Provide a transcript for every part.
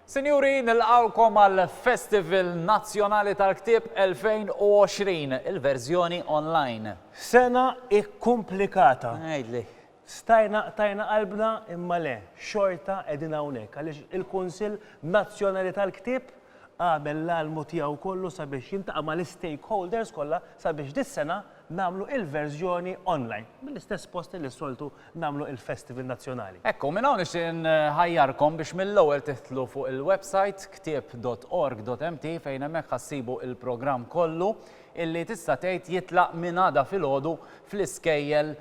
Sinjuri, nilqawkom għal Festival Nazzjonali tal-Ktib 2020, il-verżjoni online. Sena ikkumplikata. Ngħidli. Stajna qtajna qalbna imma le, xorta qegħdin hawnhekk għaliex il-Kunsill Nazzjonali tal-Ktieb għamel l-almu tiegħu kollu sabiex jiltaqa' mal-istakeholders kollha sabiex dis-sena nagħmlu il-verżjoni online mill-istess post li s-soltu nagħmlu il-Festival Nazzjonali. Hekk hu, minn hawn nixtieq inħajjarkom biex mill-ewwel tidħlu fuq il-websajt ktieb.org.mt fejn hemmhekk ħa ssibu il-programm kollu illi tista' tgħid jitlaq minn għada filgħodu fl-iskejjel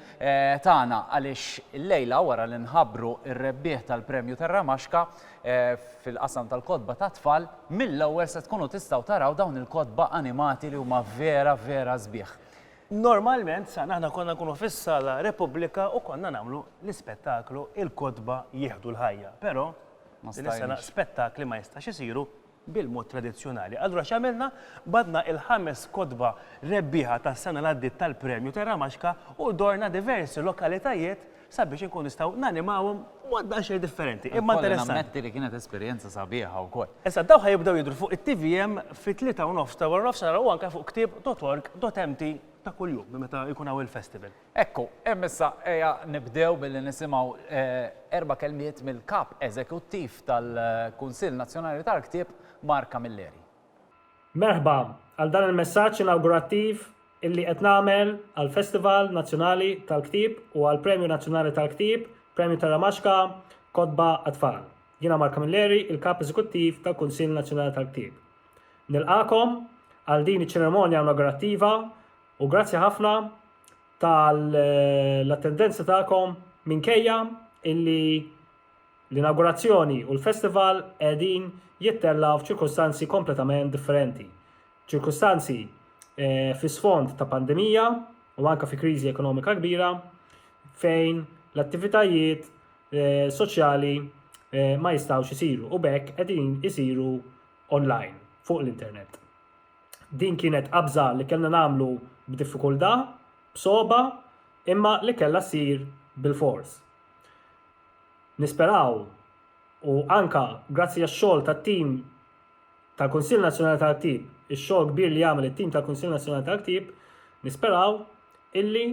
tagħna għaliex illejla wara li nħabbru r-rebbieħ tal-Premju Tarramaxka fil-qasam tal-kotba tat-tfal, mill-ewwel se tkunu tistgħu taraw dawn il-kotba animati li huma vera vera sbieħ. Normalment sa aħna konna nkunu fis-Sala Repubblika u konna nagħmlu l-ispettaklu Il-Kotba Jieħdu l-Ħajja, però din is-sena spettakli ma jistax isiru bil-mod tradizzjonali. Allura x'għamilna? Bagħatna il-ħames kotba rebbieħa tas-sena li għaddiet tal-Premju Terra Maxka u dorna diversi lokalitajiet sabiex inkunu nistgħu nanimawhom b'mod daqsxejn differenti, imma interessanti. Ikolli nammetti li kienet esperjenza sabiħa wkoll. Issa dawn ħa jibdew jidhru fuq it-TVM fit-tlieta u nofs ta' waranofsinhar u anke fuq ktieb dot org dot mt ta' kuljum minn meta jkun hawn il-festival. Hekk hu, hemm issa ejja nibdew billi nisimgħu erba' kelmiet mill-Kap Eżekuttiv tal-Kunsill Nazzjonali tal-Ktieb, Mark Camilleri. Merħba għal dan il-messaġġ inawgurattiv illi qed nagħmel għall-Festival Nazzjonali tal-Ktieb u għall-Premju Nazzjonali tal-Ktieb, Premju Terra Maġka, Kotba għat-Tfal. Jiena Mark Camilleri, il-Kap Eżekuttiv tal-Kunsill Nazzjonali tal-Ktieb. Nilqagħkom għal din iċ-ċeremonja inawgurattiva U grazzi ħafna tal-attendenza tagħkom minkejja illi l-inawgurazzjoni u l-festival qegħdin jittella' f'ċirkustanzi kompletament differenti. Ċirkustanzi eh, fi sfond ta' pandemija u anke fi kriżi ekonomika kbira fejn l-attivitajiet eh, soċjali eh, ma jistgħux isiru u bekk qegħdin isiru online fuq l-internet. Din kienet qabża li kellna nagħmlu b'diffikultà, b'sogħba, imma li kellha ssir bilfors. Nisperaw, u anke grazzi għax-xogħol tat-tim tal-Kunsill Nazzjonali tal-Ktieb, ix-xogħol kbir li għamel it-tim tal-Kunsill Nazzjonali tal-Ktieb, nisperaw illi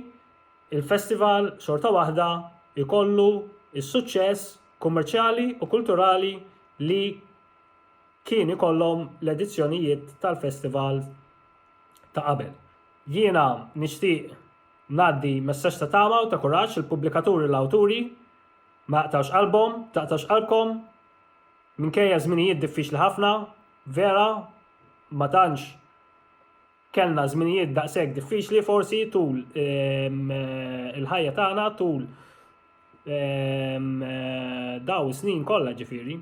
l-festival xorta waħda jkollu s-suċċess kummerċjali u kulturali li kien ikollhom l-edizzjonijiet tal-festival ta' qabel. Jiena nixtieq ngħaddi messaġġ ta' tama u ta' kuraġġ lill-pubblikaturi u l-awturi, ma jaqtgħux qalbhom, taqtax qalbkom, minkejja żminijiet diffiċli ħafna, vera, ma tantx, Kellna żminijiet daqshekk diffiċli forsi tul ehm, eh, il-ħajja tagħna tul ehm, eh, daw snin kollha ġifieri.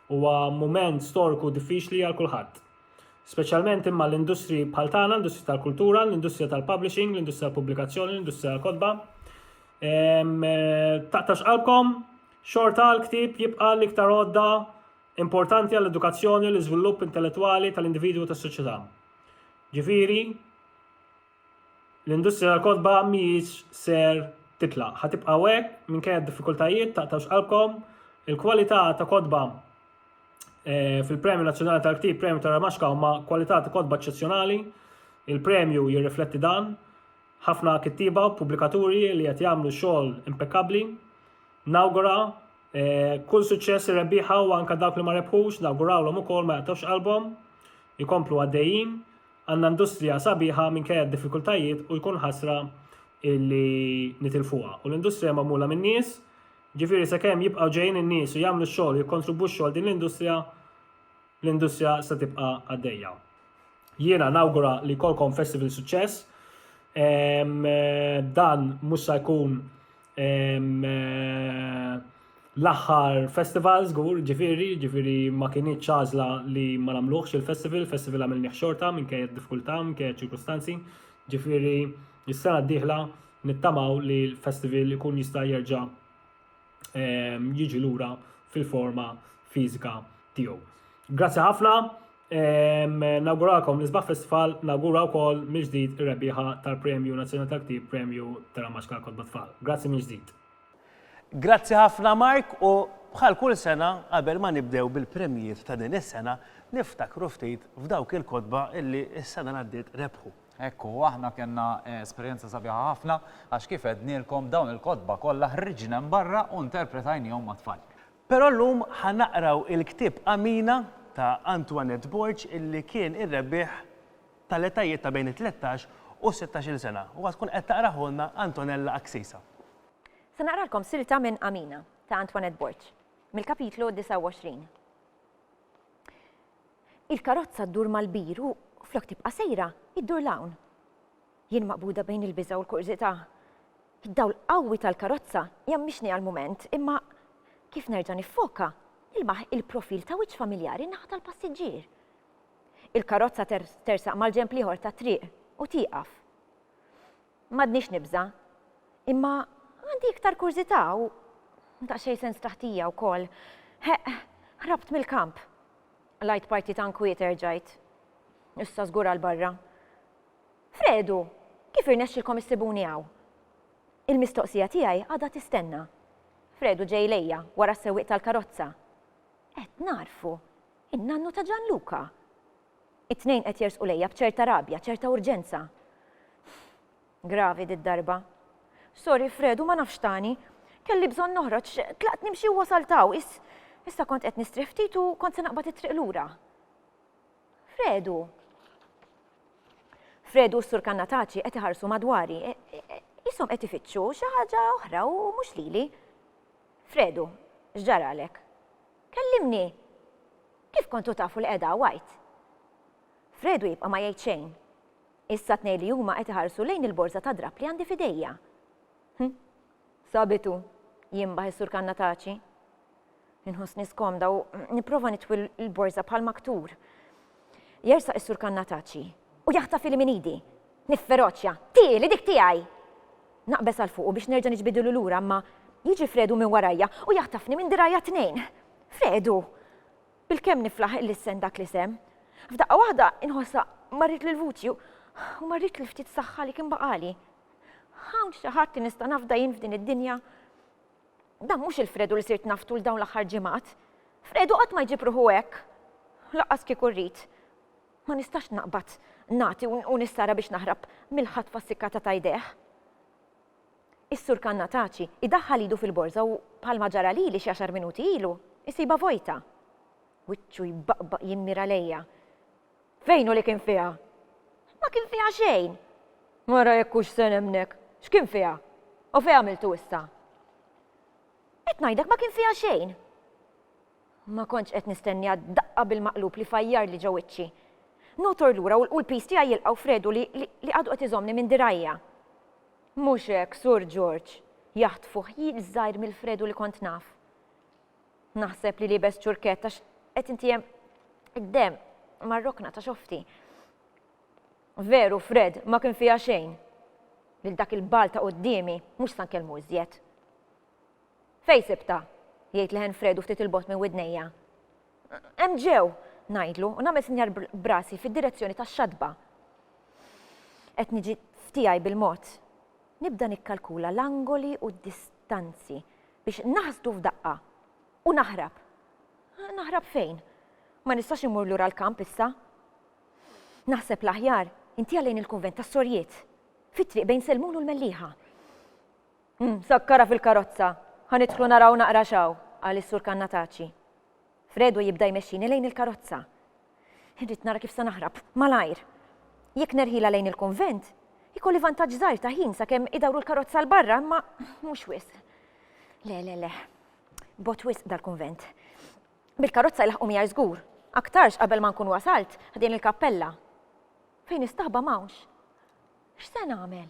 Huwa mument storku diffiċli għal kulħadd. Speċjalment imma l-industri bħal tagħna, l-industrija tal-kultura, l-industrija tal-publishing, l-industrija tal-pubblikazzjoni, l-industrija tal-kodba. Ehm, eh, taqtax qalbkom, xorta l-ktib jibqa' l-iktar għodda importanti għall-edukazzjoni u l-iżvilupp intellettwali tal-individwu tas-soċjetà. Ġifieri l-industrija tal-kotba mhijiex ser titlaq. Ħatibqa' hekk minkejja d-diffikultajiet taqtawx qalbkom. Il-kwalità ta' kotba eh, fil-Premju Nazzjonali tal-Ktib, Premju ta' Ramaxka huma kwalità ta' kotba eċċezzjonali. Il-premju jirrifletti dan. Ħafna kittiba u pubblikaturi li qed jagħmlu xogħol impekkabbli. Nawgura Eh, kull suċċess ir-rebbieħa u anka dawk li ma rebħux nawgurawlhom ukoll ma jaqtgħux qalbhom, jkomplu għaddejjin, għandna industrija sabiħa minkejja d-diffikultajiet u jkun ħasra illi nitilfuha. U l-industrija magħmula minn nies, ġifieri sakemm jibqgħu ġejjin in-nies u jagħmlu x-xogħol jikkontribwixxu għal din l-industrija, l-industrija se tibqa' għaddejja. Jiena nawgura li kolkom festival suċċess. Eh, dan mhux se jkun L-aħħar festival żgur, ġifieri, ġifieri ma kienieċ ċażla li ma nagħmluhx il-festival, il-festival għamilni xorta minn kejja diffikultà, minn kejja ċirkustanzi, ġifieri s-sena d-dieħla nittamaw li l-festival ikun jista' jerġa' jiġi lura fil-forma fiżika tiegħu. Grazzi ħafna, Nawguralkom l-isbaħ festival, nawgura wkoll mill-ġdid ir-rebbieħa tal-Premju Nazzjonali tal-Ktieb, Premju Telamax Kalkotba Tfal. Grazzi mill-ġdid. Grazzi ħafna Mark u bħal kull sena qabel ma nibdew bil-premjijiet ta' din is-sena niftakru ftit f'dawk il-kotba illi s-sena li għaddiet rebħu. Hekk hu, aħna kellna esperjenza sabiħa ħafna għax kif għednielkom dawn il-kotba kollha ħriġna hemm barra u nterpretajnihom mat-tfal. Però llum ħa naqraw il-ktieb Amina ta' Antoinette Borg illi kien ir-rebbieħ tal-etajiet ta' bejn it-tlettax u s-sittax-il sena u ħa tkun qed taqrahulna Antonella Axisa. Se naqralkom silta minn Amina ta' Antoinette Borg, mill-kapitlu 29. Il-karozza ddur mal-bir u, flok tibqa' sejra, iddur 'l hawn. Jien maqbuda bejn il-biża' u l-kurżità. Id-dawl qawwi tal-karozza jgħammixni għall-mument, imma kif nerġa' niffoka, nilmaħ il-profil ta' wiċċ familjari n-naħa tal-passiġġier. Il-karozza tersaq mal-ġenb l-ieħor tat-triq u tieqaf. M'għadnix nibża', imma għandi iktar kurżità u daqsxejn sens ta' ħtija wkoll. Heq, ħrabt mill-kamp. Qlajt parti ta' nkwiet erġajt. Issa żgur għal barra. Fredu, kif irnexxilkom issibuni hawn? Il-mistoqsija tiegħi għadha tistenna. Fredu ġej lejja, wara s-sewwieq tal-karozza. Qed nagħrfu! In-nannu ta' Ġanluka! It-tnejn qed jersqu lejja b'ċerta rabja, ċerta urġenza. Gravi did-darba. Sorry, Fredu, ma nafx tani. Kelli bżonn noħroġ, tlaqt nimxi u wasalt hawn. Issa kont qed nistrieħ ftit u kont se naqbad it-triq lura. Fredu! Fredu u s-Sur Kannataċi qed iħarsu madwari. E, e, Ishom qed ifittxu xi ħaġa oħra u mhux lili. Fredu, x'ġaralek? Kellimni! Kif kontu tafu li qiegħda għajt? Fredu jibqa' ma jgħid xejn. Issa tnej li huma qed iħarsu lejn il-borza ta' drab li għandi fidejja. Hm, sabitu, jimbaħ is-Sur Kannataċi. Inħossni skomda u nipprova nitwi l-borża bħal maktur. Jersaq is-Sur Kannataċi u jaħtafili minn idi. Nifferoċja, Tieli dik tiegħi! Naqbeż għal fuqu biex nerġa' niġbidilu lura imma jiġi Fredu minn warajja u jaħtafni minn dirgħajja t-tnejn. Fredu! Bilkemm niflaħ il-lissen dak l-isem. F'daqqa waħda inħossha marret lil vuċi u marret lil ftit saħħa li kien baqali. Hawn xi ħadd li nista' nafda jien f'din id-dinja? Dan mhux il-Fredu li sirt naf tul dawn l-aħħar ġimgħat. Fredu qatt ma jġib ruħu hekk. Lanqas kieku rrid. Ma nistax naqbad nagħti u nissara biex naħrab mill-ħatfa ssikkata ta' idejh. Is-Sur Kannataci idaħħal idu fil-borża u, bħalma ġara lili xi għaxar minuti ilu, isibha vojta. Wiċċu jbaqbaq jimmira lejja. Fejn hu li kien fiha? Ma kien fiha xejn! Ara jekk hux se nemmnek! X'kien fiha? U fejn għamiltu issa? Qed ngħidlek ma kien fiha xejn! Ma kontx qed nistenniha d-daqqa bil-maqlub li fajjarli ġo wiċċi. Notor lura u l-piż tiegħi jilqgħu f'redu li għadu qed iżommni minn dirgħajja. Mhux hekk, Sur Ġorġ! jaħtfuh jil żgħir mill-fredu li kont naf. Naħseb li libes ċurkett għax qed intiehem id-demm mar-rokna ta' xofti. Veru, Fred, ma kien fiha xejn. Lil dak il-bal ta' quddiemi mhux sa nkellmu iżjed. Fejn sibta? jgħid leħen Fred u ftit il-bogħod minn widnejja. Hemm ġew, ngħidlu u nagħmel sinjar brasi fid-direzzjoni tax-xatba. Qed niġi f'tiegħi bil-mod. Nibda nikkalkula l-angoli u d-distanzi biex naħsdu f'daqqa u naħrab. Naħrab fejn? Ma nistax immur lura l-kamp issa. Naħseb l-aħjar intiha lejn il-kunvent tas-sorjiet, fit-triq bejn Selmun u l-Mellieħa. Hmm, sakkara fil-karozza, ħa nidħlu naraw naqra xaw, qal is-sur Kannataċi. Fredo jibda jmexxini lejn il-karozza. Irrid nara kif se naħrab, malajr. Jekk nerħilha lejn il-kunvent, ikolli vantaġġ żgħir ta' ħin sakemm idawru l-karozza 'l barra imma mhux wisq. Le, le, le. Bogħod wisq dal-kunvent. Bil-karozza jlaħħqu miegħi żgur. Aktarx qabel ma nkun wasalt ħdejn il-kappella. Fejn is-staħba m'hawnx. X'se nagħmel?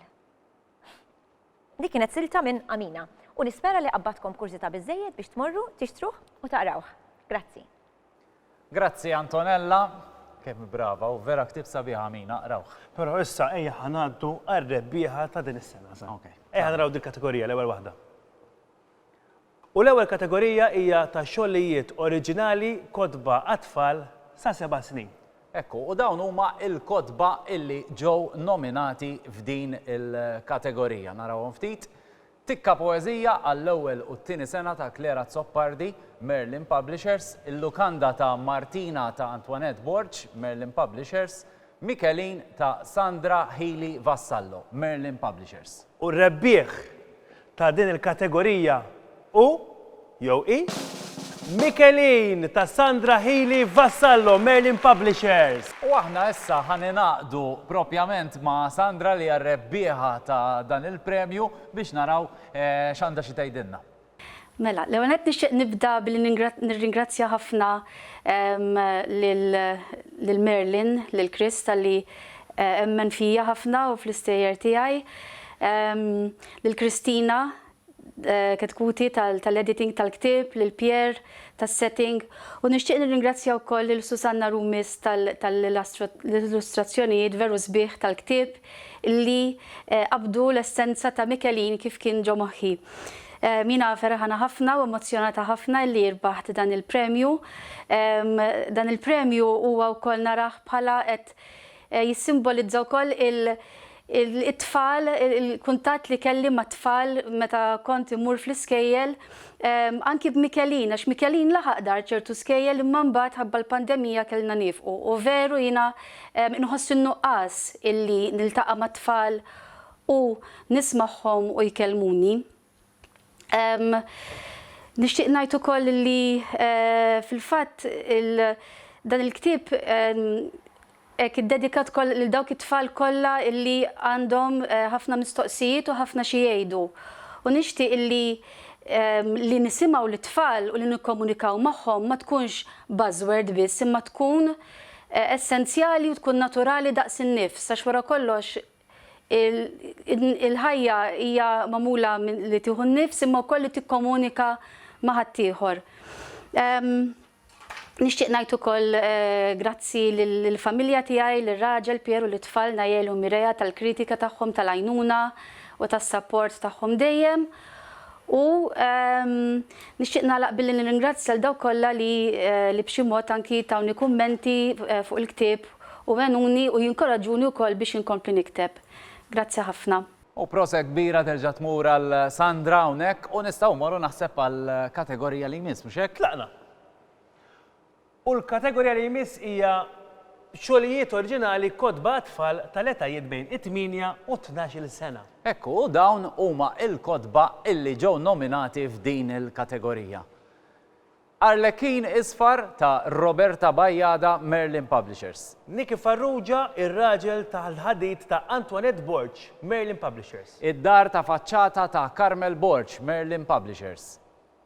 Dik kienet silta minn Amina u nispera li qabbadtkom kurżità biżżejjed biex tmorru tixtruh u taqrawh. Grazzi. Grazzi Antonella. Kemm hi brava u vera ktieb sabiħ Amina, qrawh. Però issa ejja ħa ngħaddu għar-rebbieħa ta' din is-sena. Ejja naraw dil-kategorija l-ewwel waħda. U l-ewwel kategorija hija ta' xogħlijiet oriġinali kotba għat-tfal sa seba' snin. Hekk hu, u dawn huma l-kotba illi ġew nominati f'din il-kategorija. Narawhom ftit. Tikka poeżija għall-ewwel u t-tieni sena ta' Claire Azzopardi, Merlin Publishers, Il-Lukanda ta' Martina ta' Antoinette Borg, Merlin Publishers, Michelin ta' Sandra Healy Vassallo, Merlin Publishers. U r-rebbieħ ta' din il-kategorija hu, jew hi, Michelin ta' Sandra Healy Vassallo, Merlin Publishers. U aħna issa ħa ningħaqdu propjament ma' Sandra li hija r-rebbieħa ta' dan il-premju biex naraw x'għandha xi tgħidilna. Mela, l-ewwel nett nixtieq nibda billi nirringrazzja ħafna lil Merlin, lil Chris talli emmen fija ħafna u fl-istejjer tiegħi, lil Christina Ketkuti tal-editing tal-ktieb, lil Pierre tas-setting, u nixtieq nirringrazzja wkoll lil Susanna Rumis tal-illustrazzjonijiet veru sbieħ tal-ktieb, li qabdu l-essenza ta' Michelin kif kien ġo moħħi. Jiena ferħana ħafna u emozzjonata ħafna li rbaħt dan il-premju. Dan il-premju huwa wkoll narah bħala qed jissimbolizza wkoll il- it-tfal, il-kuntatt li kelli mat-tfal meta kont immur fl-iskejjel, anki b'Michelin, għax Michelin laħaq dar ċertu skejjel imma mbagħad ħabba l-pandemija kellna niefqu u veru jiena Inħoss n-nuqqas illi niltaqa' mat-tfal u nismagħhom u jkellmuni. Nixtieq ngħid ukoll li fil-fatt dan il-ktieb hekk iddedikat ukoll lil dawk it-tfal kollha illi għandhom ħafna mistoqsijiet u ħafna xi jgħidu. U nixtieq illi li nisimgħu lit-tfal u li nikkomunikaw magħhom ma tkunx buzzword biss imma tkun essenzjali u tkun naturali daqs in-nifs għax wara kollox il-ħajja hija magħmula minn li tieħu n-nifs imma wkoll li tikkomunika ma' ħaddieħor. Nixtieq ngħid ukoll grazzi lill-familja tiegħi, lir-raġel Pier u lit-tfal Nael u Mireia tal-kritika tagħhom, tal-għajnuna u tas-sapport tagħhom dejjem. U nixtieq nagħlaq billi nirringrazzja lil dawk kollha li li b'xi mod anki tawni kummenti fuq il-ktieb u għenuni u jinkoraġġuni wkoll biex inkompli nikteb. Grazzi ħafna. U prosa kbira terġa' tmur għal Sandra hawnhekk u nistgħu mmorru naħseb għall-kategorija li jmiss, mhux hekk? Tlaqna! U l-kategorija li jmiss hija Xogħlijiet oriġinali kotba għat-tfal tal-etajiet bejn it-tmienja u t-tnax-il sena. Hekk hu, dawn huma l-kotba illi ġew nominati f'din il-kategorija. Arlekin Isfar ta' Roberta Bajada, Merlin Publishers. Niki Farrugia, Ir-Raġel tal-Ħadid ta' Antoinette Borg, Merlin Publishers. Id-Dar ta' Faċċata ta' Carmel Borg, Merlin Publishers.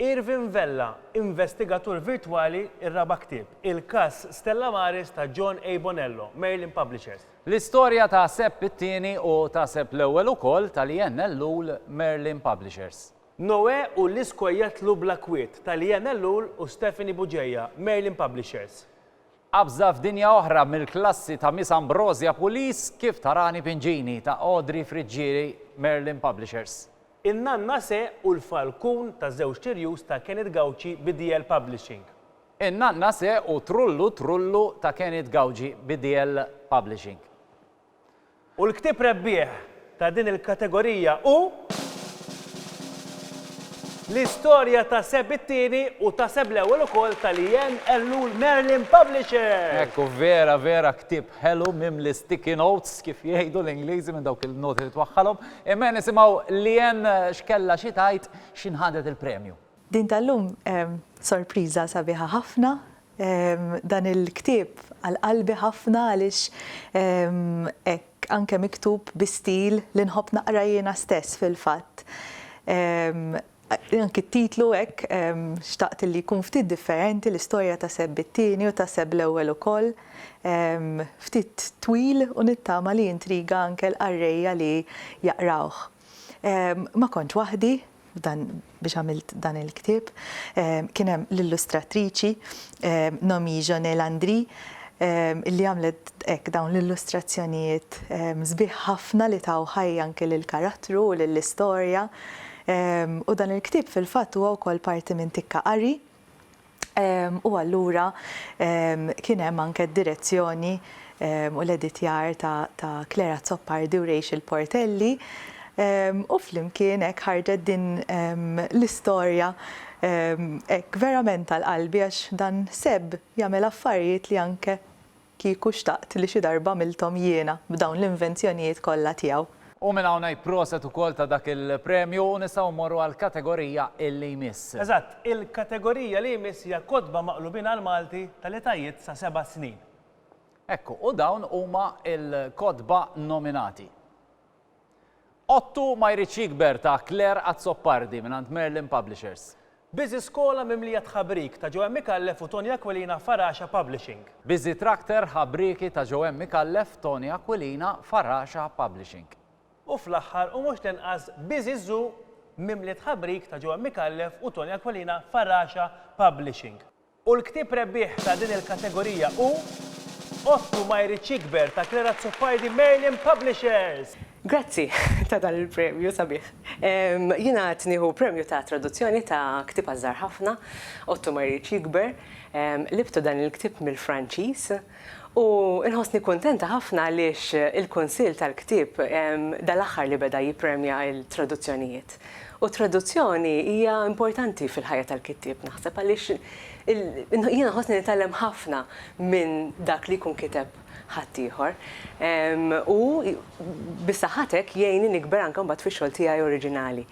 Irvin Vella, Investigatur Virtwali Ir-raba' ktieb, il-każ Stella Maris ta' John A. Bonello, Merlin Publishers. L-istorja ta' Sepp it-Tieni u ta' Sepp l-Ewwel ukoll ta' Leanne Ellul, Merlin Publishers. Noè u l-iskwa jatlu bla kwiet ta' Leanne Ellul u Stephanie Bugeja, Merlin Publishers. Qabża f'dinja oħra mill-klassi ta' Miss Ambrosia Pulis, Kif Tarani Pingini ta' Audrey Friggieri, Merlin Publishers. In-Nanna Se u l-Falkun ta' Żewġt Tirjus ta' Kenneth Gauci bi DL Publishing. In-Nanna Se u Trullu Trullu ta' Kenneth Gauci bi DL Publishing. U l-ktieb rebbieħ ta' din il-kategorija hu L-Istorja ta' Seb it-Tieni u ta' Seb l-Ewwel ukoll tal-Ian Ellul Merlin Publishers! Hekk hu, vera vera ktieb Ħelu mimli sticky notes, kif jgħidu l-Ingliżi minn dawk il-noti li twaħħalhom. Imma nisimgħu Leanne x'kellha xi tgħid x'in ħadet il-premju. Din tal-lum sorpriża sabiħa ħafna. Dan il-ktieb għal qalbi ħafna għaliex hekk anke miktub bi stil li nħobb naqra jiena stess fil-fatt. Anki t-titlu hekk xtaqt illi jkun ftit differenti, l-istorja ta' Seb it-Tieni u ta' Seb l-Ewwel ukoll. Ftit twil u nittama li jintriga anke l-qarrejja li jaqrawh. Ma kontx waħdi f'dan biex għamilt dan il-ktieb. Kien hemm l-illustratriċi Nomi Jonel Andri illi għamlet hekk dawn l-illustrazzjonijiet sbieħ ħafna li taw ħajja anke lill-karattru u lill-istorja. U dan il-ktieb fil-fatt huwa wkoll parti minn Tikka Qari u allura kien hemm anke d-direzzjoni u l-editjar ta' Claire Azzopardi u Rachel Portelli u flimkien hekk ħarġet din l-istorja hekk verament għal qalbi għax dan Seb jagħmel affarijiet li anke Kieku xtaqt li xi darba għamilthom jiena b'dawn l-invenzjonijiet kollha tiegħu. U minn hawn ngħid proset ukoll ta' dak il-premju u nistgħu mmorru għall-kategorija li jmiss. Eżatt, il-kategorija li jmiss hija Kotba Maqlubin għall-Malti tal-etajiet sa seba' snin. Hekk hu, u dawn huma l-kotba nominati. Ottu ma jridx jikber ta' Claire Azzopardi mingħand Merlin Publishers. Busy Skola mimlija tħabrik ta' Joanne Micallef u Tony Aquilina Faraxa Publishing. Busy Tractor ħabrieki ta' Joanne Micallef, Tony Aquilina, Faraxa Publishing. U fl-aħħar u mhux l-inqas Busy Zoo mimli tħabrik ta' Joanne Micallef u Tony Aquilina Faraxa Publishing. U l-ktieb rebbieħ ta' din il-kategorija hu Ottu ma jridx jikber ta' Claire Azzopardi, Merlin Publishers! Grazzi ta' dan il-premju sabiħ. Jiena qed nieħu premju ta' traduzzjoni ta' ktieb għaż-żgħar ħafna, Ottu ma jridx jikber. Libtu dan il-ktieb mill-Franċiż. U nħossni kuntenta ħafna għaliex il-Kunsill tal-Ktieb dal-aħħar li beda jippremja l-traduzzjonijiet. U t-traduzzjoni hija importanti fil-ħajja tal-kittieb naħseb għaliex jiena nħossni nitgħallem ħafna minn dak li jkun kiteb ħaddieħor. U bis-saħħa t'hekk jgħinni nikber anke mbagħad fix-xogħol tiegħi oriġinali.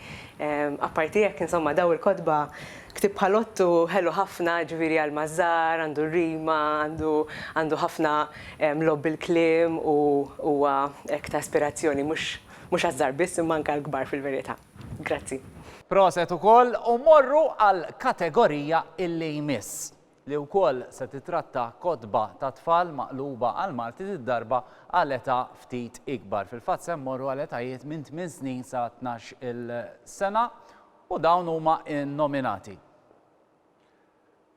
Apparti hekk insomma dawn il-kotba Ktieb bħal Ottu ħelu ħafna, jiġifieri għalma żgħar, għandu rima, għandu għandu ħafna logħob bil-kliem u huwa hekk ta' ispirazzjoni mhux mhux għaż-żgħar biss imma anke għall-kbar fil-verità. Grazzi. Proset ukoll u mmorru għall-kategorija illi jmiss, li wkoll se titratta kotba ta' tfal maqluba għall-Malti did-darba għal età ftit ikbar. Fil-fatt se mmorru għal etajiet minn tmien snin sa tnax-il sena. U dawn huma n-nominati.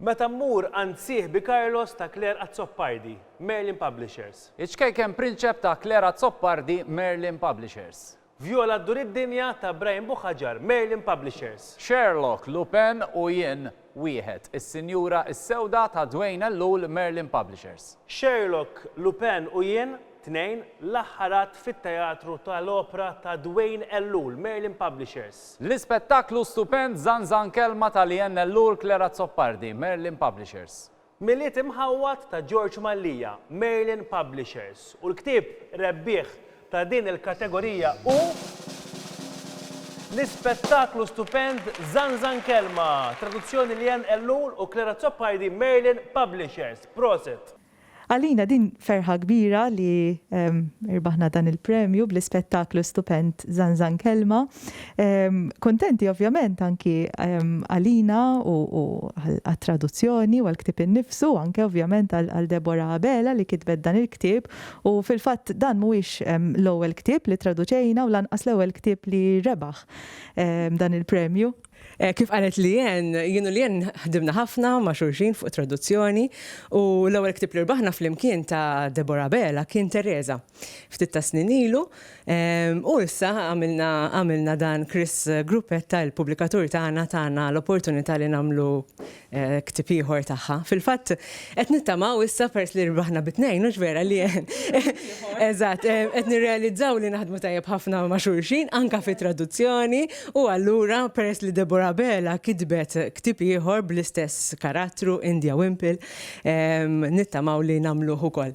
Meta mmur għand sieħbi Carlos ta' Clare Azzopardi, Merlin Publishers. Iċ-Ċkejken Prinċep ta' Clare Azzopardi, Merlin Publishers. Vjola Ddur id-Dinja ta' Brian Buhagiar, Merlin Publishers. Sherlock, Lupin u jien. Wieħed, Is-Sinjura s-Sewda ta' Dwayne Ellul, Merlin Publishers. Sherlock, Lupin u Jien, Tnejn, L-Aħħar Att fit-Teatru ta' l-Opra ta' Dwayne Ellul, Merlin Publishers. L-Ispettaklu Stupend Żanżan Kelma ta' Leanne Ellul, Clare Azzopardi, Merlin Publishers. Milied imħawwad ta' George Mallia, Merlin Publishers, u l-ktieb rebbieħ ta' din il-kategorija hu l-ispettaklu stupend Zanzan Kelma, traduzzjoni Leanne Ellul u Clara Azzopardi, Merlin Publishers. Prosit! Għalina din ferħa kbira li irbaħna dan il-premju bl-ispettaklu stupend Zanzan Kelma. Kontenti ovvjament anki għalina u għat-traduzzjoni u għal-ktib innifsu, anke ovvjament għal Deborah Abela li kitbet dan il-ktib u fil-fatt dan mhuwiex l-ewwel ktib li traduċejna u lanqas l-ewwel ktib li rebaħ dan il-premju. Kif qalet Leanne, jien u Leanne ħdimna ħafna ma' xulxin fuq it-traduzzjoni, u l-ewwel ktieb li rbaħna flimkien ta' Deborah Abela kien Tereża, ftit tas-snin ilu, u issa għamilna għamilna dan Chris Gruppetta, il-pubblikatur tagħna, tana l-opportunità li nagħmlu ktieb ieħor tagħha. Fil-fatt qed nittamaw issa peress li rbaħna bi tnejn, hux vera li eżatt, qed nirrealizzaw li naħdmu tajjeb ħafna ma' xulxin anke fi traduzzjoni u allura peress li Deborah Abela kitbet ktieb ieħor bl-istess karattru India Wimple, nittamaw li nagħmluh ukoll.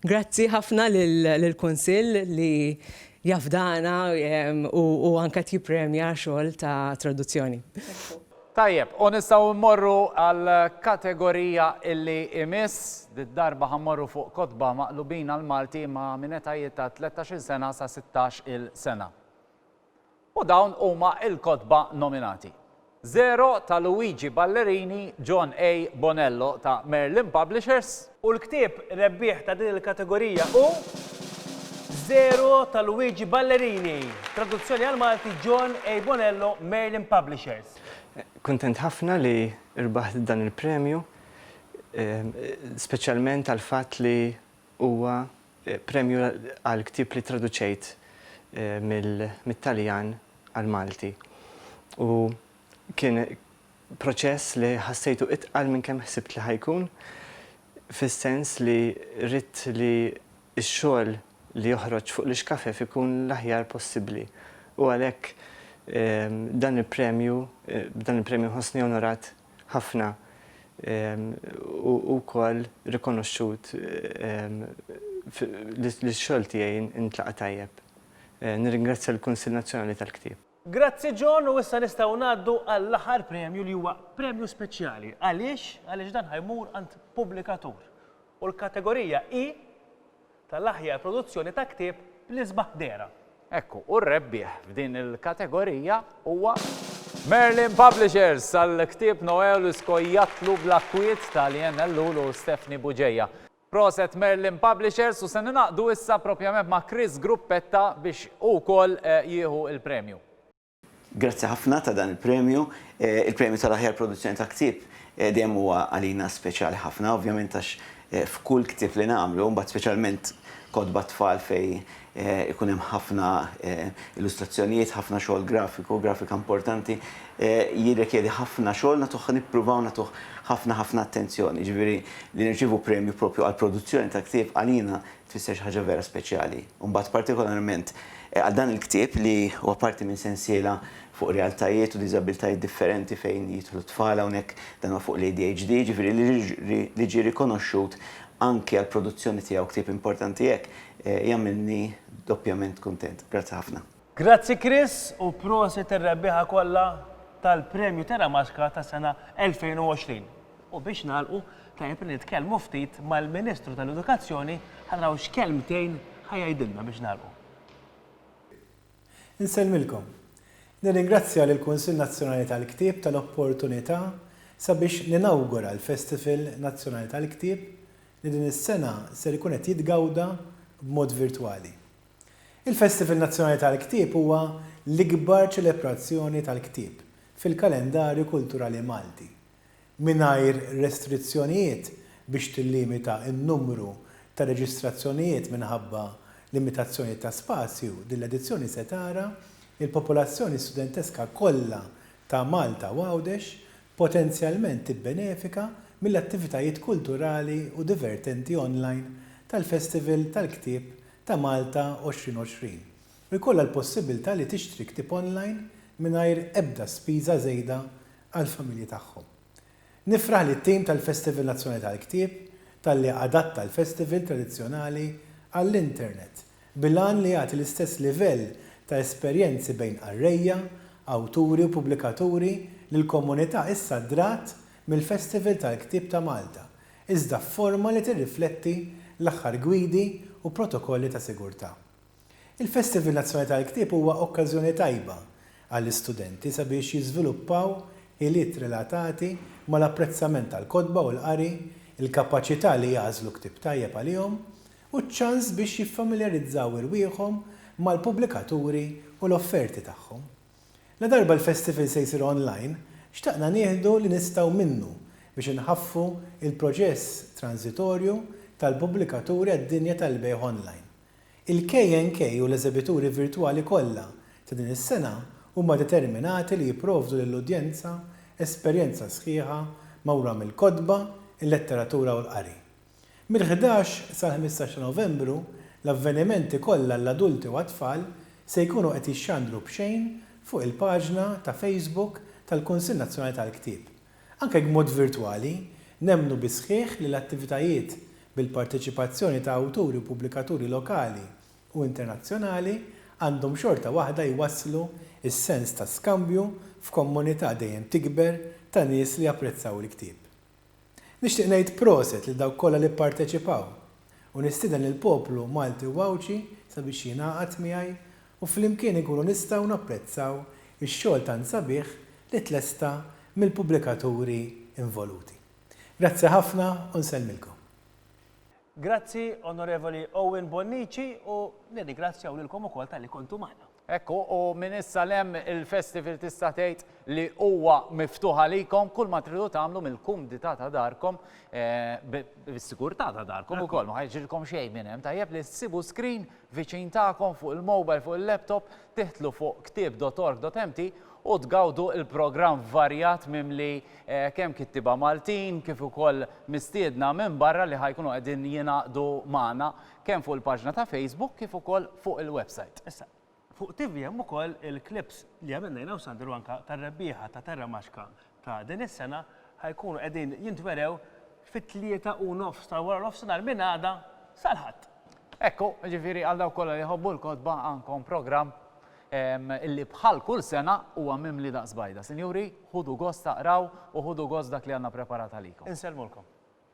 Grazzi ħafna lill-Kunsill li jafdana u anke qed jippremja xogħol ta' traduzzjoni. Tajjeb, u nistgħu mmorru għall-kategorija illi imiss. Did-darba ħa mmorru fuq kotba maqlubin għall-Malti ma' minn etajiet ta' tlettax-il sena sa sittax-il sena. U dawn huma l-kotba nominati. Zero ta' Luigi Ballerini, John A. Bonello ta' Merlin Publishers. U l-ktieb rebbieħ ta' din il-kategorija hu Zero ta' Luigi Ballerini, traduzzjoni għall-Malti John A. Bonello, Merlin Publishers. Kuntent ħafna li rbaħt dan il-premju, speċjalment għall-fatt li huwa premju għal ktieb li traduċejt mit-Taljan għall-Malti. U kien proċess li ħassejtu itqal minn kemm ħsibt li ħa jkun, fis-sens li ridt li x-xogħol li joħroġ fuq l-ixkafef ikun l-aħjar possibbli u għalhekk dan il-premju, b'dan il-premju nħossni onorat ħafna u wkoll rikonoxxut li x-xogħol tiegħi ntlaqa' tajjeb. Nirringrazzja lill-Kunsill Nazzjonali tal-Ktieb. Grazzi John u issa nistgħu ngħaddu għall-aħħar premju li huwa premju speċjali. Għaliex? Għaliex dan ħa jmur għand pubblikatur. U l-kategorija hi tal-aħjar produzzjoni ta' ktieb bl-isbaħ dehra. Ekku, u r-rebbieħ f'din il-kategorija huwa Merlin Publishers għall-ktieb Noel u Skojjatlu bla Kwiet tal-Ian Ellul u Stephanie Bugeja. Proset Merlin Publishers u se ningħaqdu issa propjament ma' Chris Gruppetta biex hu wkoll jieħu l-premju. Grazzi ħafna ta' dan il-premju. Il-premju tal-aħjar produzzjoni ta' ktieb dejjem huwa għalina speċjali ħafna ovvjament għax f'kull ktieb li nagħmlu, mbagħad speċjalment kotba t-tfal fejn Ikun hemm ħafna illustrazzjonijiet, ħafna xogħol grafiku, grafika importanti. Jirrikjedi ħafna xogħol, nagħtuh nippruvaw nagħtuh ħafna ħafna attenzjoni. Jiġifieri li nirċievu premju proprju għall-produzzjoni ta' ktieb għalina tfisser xi ħaġa vera speċjali. U mbagħad partikolarment għal dan il-ktieb li huwa parti minn sensiela fuq realtajiet u diżabbiltajiet differenti fejn jidħlu t-tfal hawnhekk, dan huwa fuq l-ADHD, jiġifieri li ġie rikonoxxut anki għall-produzzjoni tiegħu ktieb importanti hekk, Jagħmilni doppjament kuntent. Grazzi ħafna. Grazzi Chris u prosit ir-rebbieħa kollha tal-Premju Terra Maska tas-sena 2020. U biex nagħlqu, tajjeb li nitkellmu ftit mal-Ministru tal-Edukazzjoni ħa naraw x'kelmtejn ħa jgħidilna biex nagħlqu. Insellmilkom. Nirringrazzja lill-Kunsill Nazzjonali tal-Ktieb tal-opportunità sabiex ninawgura l-Festival Nazzjonali tal-Ktieb li din is-sena ser ikun qed jitgawda b'mod virtwali. Il-Festival Nazzjonali tal-Ktieb huwa l-ikbar ċelebrazzjoni tal-ktieb fil-kalendarju kulturali Malti, mingħajr restrizzjonijiet biex tillimita n-numru ta' reġistrazzjonijiet minħabba limitazzjonijiet ta' spazju, din l-edizzjoni se tara l-popolazzjoni studenteska kollha ta' Malta u Għawdex potenzjalment tibbenefika mill-attivitajiet kulturali u divertenti online tal-Festival tal-Ktieb ta' Malta 2020 u jkollha l-possibbiltà li tixtri ktieb online mingħajr ebda spiża żejda għall-familji tagħhom. Nifraħ lit-tim tal-Festival Nazzjonali tal-Ktieb talli adatta l-Festival tradizzjonali għall-internet bil-għan li jagħti l-istess livell ta' esperjenzi bejn qarrejja, awturi u pubblikaturi li l-komunità issa drat mill-Festival tal-Ktieb ta' Malta, iżda f'forma li tirrifletti l-aħħar gwidi u protokolli ta' sigurtà. Il-Festival Nazzjonali tal-Ktieb huwa okkażjoni tajba għall-istudenti sabiex jiżviluppaw ħiliet relatati mal-apprezzament tal-kotba u l-qari, il-kapaċità li jagħżlu ktieb tajjeb għalihom, u ċ-ċans biex jiffamiljarizzaw irwieħhom mal-pubblikaturi u l-offerti tagħhom. Ladarba l-festival se jsir online, xtaqna nieħdu li nistgħu minnu biex inħaffu l-proċess tranżitorju tal-pubblikaturi għad-dinja tal-bejgħ online. Il-KNK u l-eżebituri virtwali kollha ta' din is-sena huma determinati li jipprovdu lill-udjenza esperjenza sħiħa magħmura mill-kotba, il-letteratura u l-qari. Mill-ħdax sal-ħmistax ta' Novembru, l-avvenimenti kollha għall-adulti u għat-tfal se jkunu qed jixxandru b'xejn fuq il-paġna ta' Facebook tal-Kunsill Nazzjonali tal-Ktieb. Anke jekk b'mod virtwali, nemmnu bis-sħiħ li l-attivitajiet bil-parteċipazzjoni ta' awturi u pubblikaturi lokali u internazzjonali għandhom xorta waħda jwasslu s-sens ta' skambju f'kommunità dejjem tikber ta' nies li japprezzaw il-ktieb. Nixtieq ngħid proset lil dawk kollha li pparteċipaw u nistieden lill-poplu Malti u Għawdxi sabiex jingħaqad miegħi u flimkien inkunu nistgħu napprezzaw ix-xogħol tant sabiħ li tlesta mill-pubblikaturi involuti. Grazzi ħafna u nsellmilkom. Grazzi, Onorevoli Owen Bonnici, u nirringrazzjaw lilkom ukoll talli kontu magħna. Hekk hu, u minn issa 'l hemm il-festival tista' tgħid li huwa miftuħ għalikom, kull ma tridu tagħmlu mill-kumdità ta' darkom, bis-sigurtà ta' darkom ukoll, ma ħajġrilkom xejn minn hemm, tajjeb li ssibu screen viċin tagħkom fuq il-mobile, fuq il-laptop, tiħtlu fuq ktieb.org.mt u tgawdu l-programm varjat mimli kemm kittieba Maltin kif ukoll mistiedna minn barra li ħajkunu qegħdin jingħaqdu magħna kemm fuq il-paġna ta' Facebook kif ukoll fuq il-website. Issa, fuq TV hemm ukoll il-clips li għamilna jiena u Sandru anke tar-rebbieħa ta' Terra Maxka ta' din is-sena ħa jkunu qegħdin jintwerew fit-tlieta u nofs ta' wara nofsinhar minn għada sal-Ħadd. Hekk hu, jiġifieri għal dawk kollha li jħobbu l-kotba għandkom programm li bħal kull sena huwa mimli daqs bajda. Sinjuri, ħudu gost taqraw u ħudu gost dak li għandna preparat għalikom. Insellmulkom.